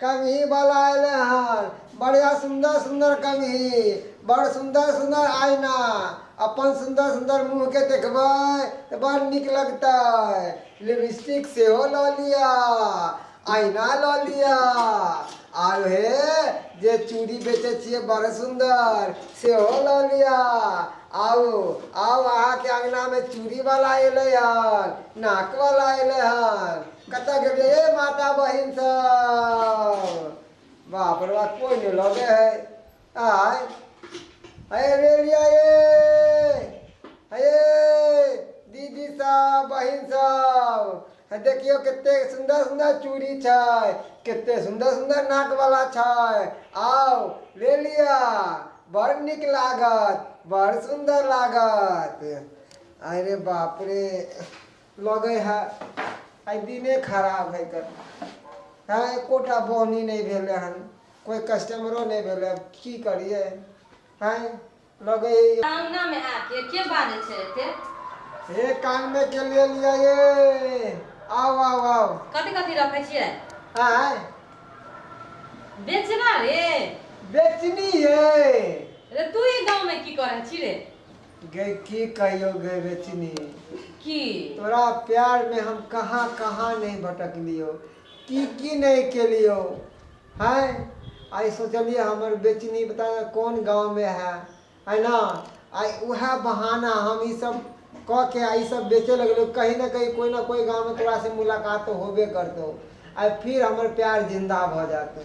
कंघी बला एलै हन। बढ़िया सुन्दर सुन्दर कंघी। बड़ सुन्दर सुन्दर आइना। अपन सुन्दर सुन्दर मुँह के देखबै त बड़ नीक लगतै। लिबिस्टिक सेहो ल लिअ। आइना ल लिअ। आर हे जे चूड़ी बेचै छियै बड़ सुन्दर सेहो ल लिअ। आउ आउ अहाँ के अंगना में चूड़ी बला एलै हन। नाक बला एलै हन। कतऽ गेलियै हे माता बहिन सब बाप रे बाप कोइ नहि लगे है आय हे रे लिया ये हे ये दीदी सब बहिन सब हे देखियौ कते सुन्दर सुन्दर चूड़ी छै कते सुन्दर सुन्दर नाक वाला छै आउ ले लिया बड़ नीक लागत बड़ सुन्दर लागत अरे बाप रे लगै है आइ दिने खराब है तऽ हँ एकोटा बौनी नहि भेलै हन कोइ कस्टमरो नहि भेलै आब की करियै हँ लगै है सामना में आके के बाजे छै एते हे कान में के ले लिया ये आव आव आव कथी कथी रखे छियै आय बेचना रे बेचनी ये रे तू ई गाँव में की करे छी रे गै की कहियौ गै रेचनी, की? तोरा प्यार मे हम कहाँ कहाँ नहि भटकलियौ, की की नहि केलियौ। हैं, आइ सोचलियै हमर बेचनी पता नहि कोन गाँव मे हए। है न, आइ उहए बहाना हम ई सब कऽ के आ ई सब बेचए लगलियौ, कहीं न कहीं कोइ न कोइ गाँव मे तोरा से मुलाकात तऽ होबे करतौ। आइ फिर हमर प्यार जिन्दा भऽ जाएत।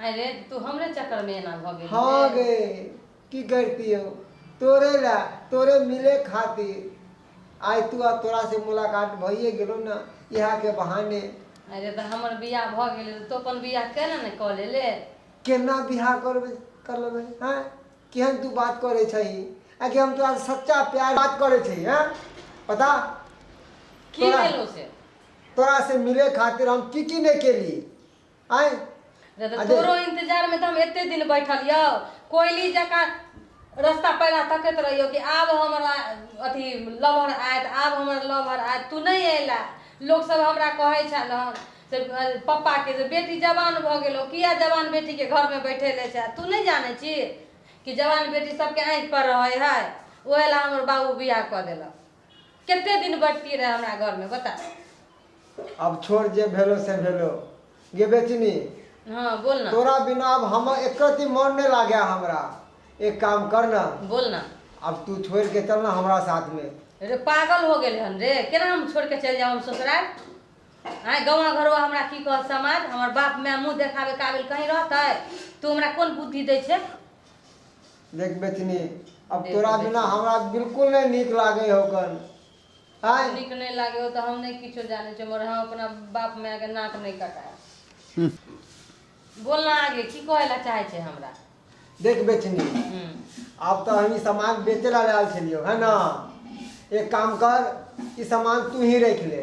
आय रे तू हमरे चक्कर में एना भ गेली हाँ रे गे की करतियो तोरे ला तोरे मिले खातिर आय तू आ तोरा से मुलाकात भइए गेलो ना इहा के बहाने आय रे त हमर बियाह भ गेले त तू अपन बियाह केना ने क ले ले केना बियाह करबे कर लेबे हैं केहन तू बात करे छही आगे हम तोरा से सच्चा प्यार बात करे छही हैं पता की तोरा- भेलो से तोरा से मिले खातिर हम की की नहीं केली आय जब अरे। तोरो इंतजार में तो हम एते दिन बैठल यो कोयली जका रास्ता पैरा तकत रहियो कि आब हमरा अथी लवर आयत आब हमर लवर आयत तू नहीं अयला लोग सब हमरा कहे छल हन से अ, पप्पा के जे बेटी जवान भ गेलो किया जवान बेटी के घर में बैठे ले छै तू नहीं जाने छी कि जवान बेटी सबके आंख पर रहे है ओहे ला हमर बाबू बियाह क देलक कते दिन बैठती रहे हमरा घर में बता अब छोड़ जे भेलो से भेलो गे बेचनी हाँ बोल ना तोरा बिना अब हम एक रत्ती मन नहीं लागे हमरा एक काम कर ना बोल ना अब तू छोड़ के चल ना हमरा साथ में रे पागल हो गेल हन रे केना हम छोड़ के चल जाओ हम ससुराल आय गवा घरवा हमरा की कहत समाज हमर बाप माय मुंह देखाबे काबिल कहीं रहतै तू हमरा कोन बुद्धि दै छै देख बेचनी अब देख तोरा बेचनी। बिना हमरा बिल्कुल नहि नीक लागै हौ कन आय नीक नहि लागे हो तऽ हम नहि किछो जानै छियै मगर हम अपना बाप माय के नाक नहि कटायब बोल ना आगे की कहै लए चाहै छै हमरा देख बेचनी हूँ आब तऽ हम ई सामान बेचै लए आयल छलियौ है न एक काम कर ई सामान तू ही राखि ले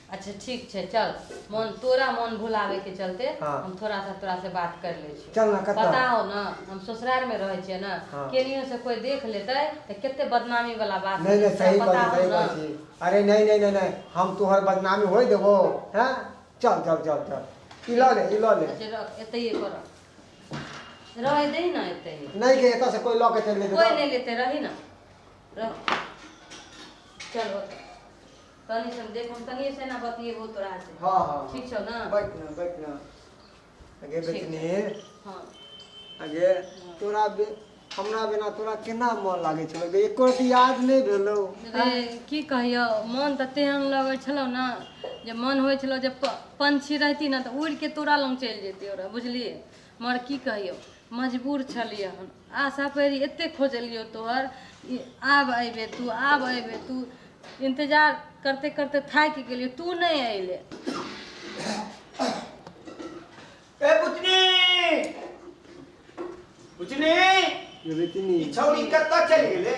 अच्छा ठीक छै चल मन तोरा मन भुलावे के चलते हाँ। हम थोड़ा सा तोरा से बात कर ले छी चल ना कत्ता पता हो ना हम ससुराल में रहे छिए ना हाँ। केनियो से कोई देख लेते त केते बदनामी वाला बात नहीं नहीं होतै, सही तोरा बात पता सही हो ना बात छी अरे नहीं नहीं नहीं नहीं हम तोहर बदनामी होई देबो हैं चल चल चल चल ई ल ले ई ल ले अच्छा रख एतै कर रहे दे ना एतै नहीं के एतऽ से कोई लऽ के चलि कोई जेतै नहीं लेते रही ना रह चल होतै तनी से हम देखो हम तनी से ना बतिएबो तोरा से हाँ हाँ ठीक छौ ना बैठ ना बैठ ना आगे ठीक बैठने हाँ आगे तोरा बे हमरा बिना तोरा केना मन लागे छलो गे एको रति याद नहीं भेलो रे की कहियो मन तऽ तेहन लगै छलौ ने जे मन होइ छलौ जे प- पंछी रहती ने तऽ उड़ि के तोरा लग चलि जैती ओरा बुझलियै मर की कहियो मजबूर छलियै हम आशा परि एते खोजलियो तोहर ई आब अयबे तू आब अयबे तू इंतजार करते करते थाकि गेलियो तू नहीं अयले ए बुचनी बुचनी ये बेटी ई नहीं छौरी कतऽ चलि गेलै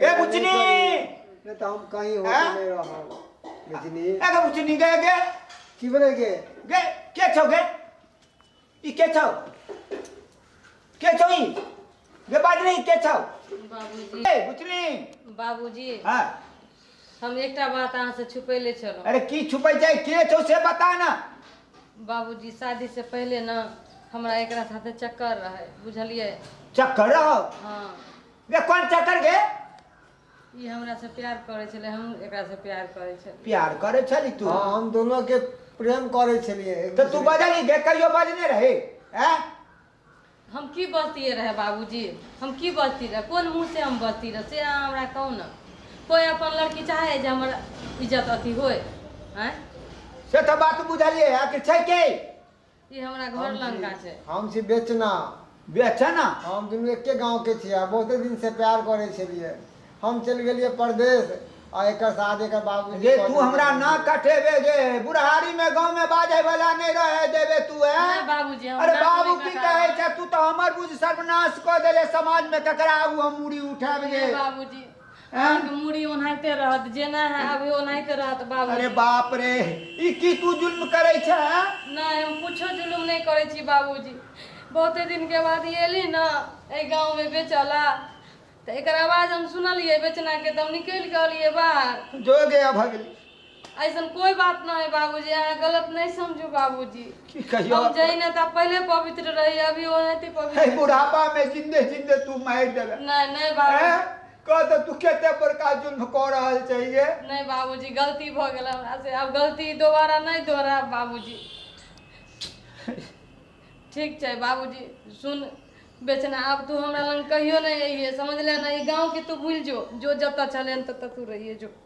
ए बुचनी नहीं तो हम कहीं होटल हाँ? में रहो बुझनी ए गे बुचनी गे गे की बोले के गे के छौ गे ई के छौ के छौ ई गे बाज नहीं के छौ बाबूजी ए बुचनी बाबूजी हां हम एकटा बात अहाँ से छुपैले छलहुँ अरे की छुपै जाय के छौ से बता ना बाबूजी शादी से पहिले ना हमरा एकरा साथे चक्कर रहे बुझलियै चक्कर रहो हाँ बे कोन चक्कर गे ई हमरा से प्यार करे छले हम एकरा से प्यार करे छले प्यार करे छली तू हाँ, हम दोनों के प्रेम करे छलिए एक तो तू दूसरे- बजली गे कहियो बजने रहे हैं हम की बजतिए रहे बाबूजी हम की बजती रहे कोन मुँह से हम बजती रहे से अहाँ हमरा कहू ने कोई अपन लड़की चाहे जे हमर इज्जत अथी होय हैं से तो बात बुझलिए आखिर छै के ई हमरा घर हम छी लंका छै हम छी बेचना बेचना हम दुनू एके गाँव के छियै आ बहुते दिन से प्यार करे छलियै हम चलि गेलियै परदेश आ एकर शादी एकर बाबूजी जे कऽ तू देलकै। हमरा ना कटेबे जे बुढ़ारी में गांव में बाजे वाला नहीं रहे देबे तू है नहि बाबूजी, हम अरे नाक बाबू नहि की कटाबे। कहे छै तू तो हमर बुझ सर्वनाश क देले समाज में ककरा आगू हम मुड़ी उठाब जे नहि बाबूजी अहाँके मूड़ी ओनाहिते रहत जेना है अभी ओनाहिते रहत बाबू अरे बाप रे ई की तू जुल्म करै छै हाँ? नहीं हम कुछो जुलुम नहीं करे छी बाबूजी बहुते दिन के बाद ये एली ना ए गांव में बेचला तो एक आवाज हम सुनलिए बेचना के तो हम निकल के अलिए बाहर जोगे भगली ऐसन कोई बात ना है बाबूजी अहाँ गलत नहीं समझू बाबूजी की कहियो हम जही ना था पहले पवित्र रही अभी वो नहीं थी है पवित्र बुढ़ापा में जिंदे जिंदे तू मार देवे नहीं नहीं हैं? बाबू कह तो तू केते बड़का जुल्म कऽ रहल चाहिए नहीं बाबूजी गलती भ गेल हमरा से अब गलती दोबारा नहीं दोहराब बाबूजी ठीक छै बाबूजी सुन बेचना अब तू हमरा लग कहियो नहीं अइहे समझले ना ई गाँव के तू भूल जो जो जतऽ छले ततऽ तू रहिए जो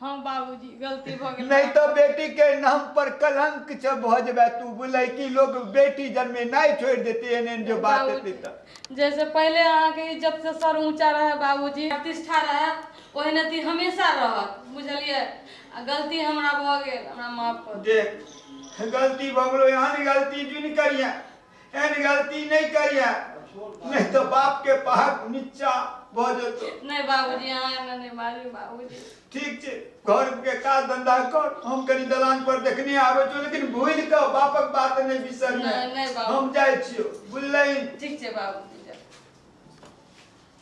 हँ बाबूजी गलती भऽ गेल नहि तऽ बेटी के नाम पर कलंक छ भऽ जेबे तू बुलै कि लोग बेटी जन्मे नहि छोड़ि देते एहन एहन जो बात बाबूजी, हेतै तऽ जैसे पहिले अहाँके इज्जत से सर ऊंचा रहे बाबूजी प्रतिष्ठा रहे ओहन अथी हमेशा रहत बुझलियै आ गलती हमरा भऽ गेल हमरा माफ कऽ दिअ देख गलती भऽ गेलो एहन गलती जुन करिहे एहन गलती नहि करिए नहि तऽ बाप के पहक नीचा भ जेतौ नहि बाबूजी अहाँ एना नहि मारी बाबूजी ठीक छै घर के काज धंधा कर हम कनी दलान पर देखने आबै छियौ लेकिन भूल के बापक बात नहि बिसर नहि, नहि बाबू। हम जाइ छियौ बुझलही ठीक छै बाबूजी